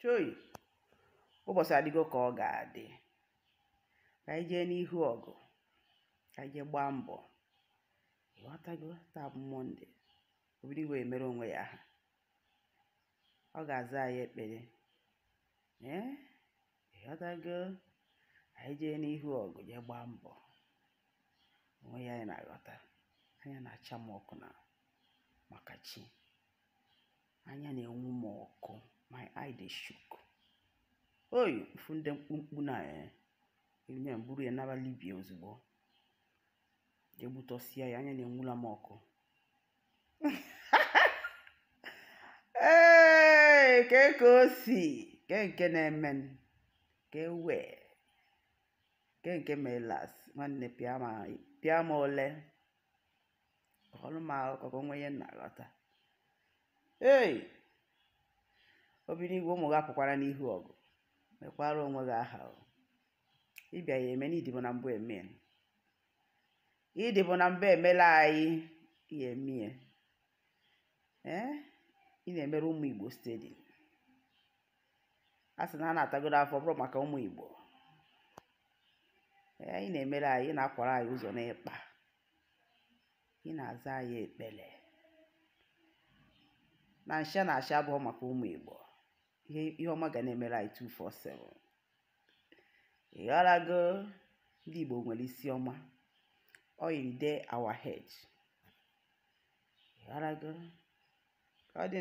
choi ụbọsị adịgo ka ọ ga-adị ka anyị jee n'ihu ọgụ ka anyị jee gbaa mbọ ịghọtago taa bụ mọnde obi dị n'igwe emere onwe ya aha ọ ga-aza anyị ekpere ee ịghọtago anyị jee n'ihu ọgụ jee gbaa mbọ o nwee ihe anyị na-aghọta anya na-acha m ọkụ na maka chi anya na-enwu m ọkụ my eye dey shook oyi mfu ndị mkpumkpu na eh, ime m buru ya naba libia ozugbo jee gbutọsịa ya anya na-enwula m ọkụ ee ke ka o si ke nke na-eme m ke wee ke nke mee last nwanne pịa ma pịa ma ole kọrọ m akụkọ ka o nwee ihe m na-aghọta ei obi n'igwe ụmụ gị apụkwara n'ihu ọgụ mekwara onwe gị aha o ị bịa ya eme na ị dịbu na mbụ eme ya. ị dịbu na mbụ emela anyị ya emie ee ị na-emere ụmụ igbo steady a sị na a na-atagodo afụfụ ọ bụrụ maka ụmụ Igbo ya ị na-emere anyị ị na-akwara anyị ụzọ n'ikpa ị na-aza anyị ekpere na nsha na asha abụhọ maka ụmụ Igbo ihe ọma ga na-emere anyị 247 ịghọrago ndị Igbo nwere isi ọma oil dey our head ịghọrago ka ọ dị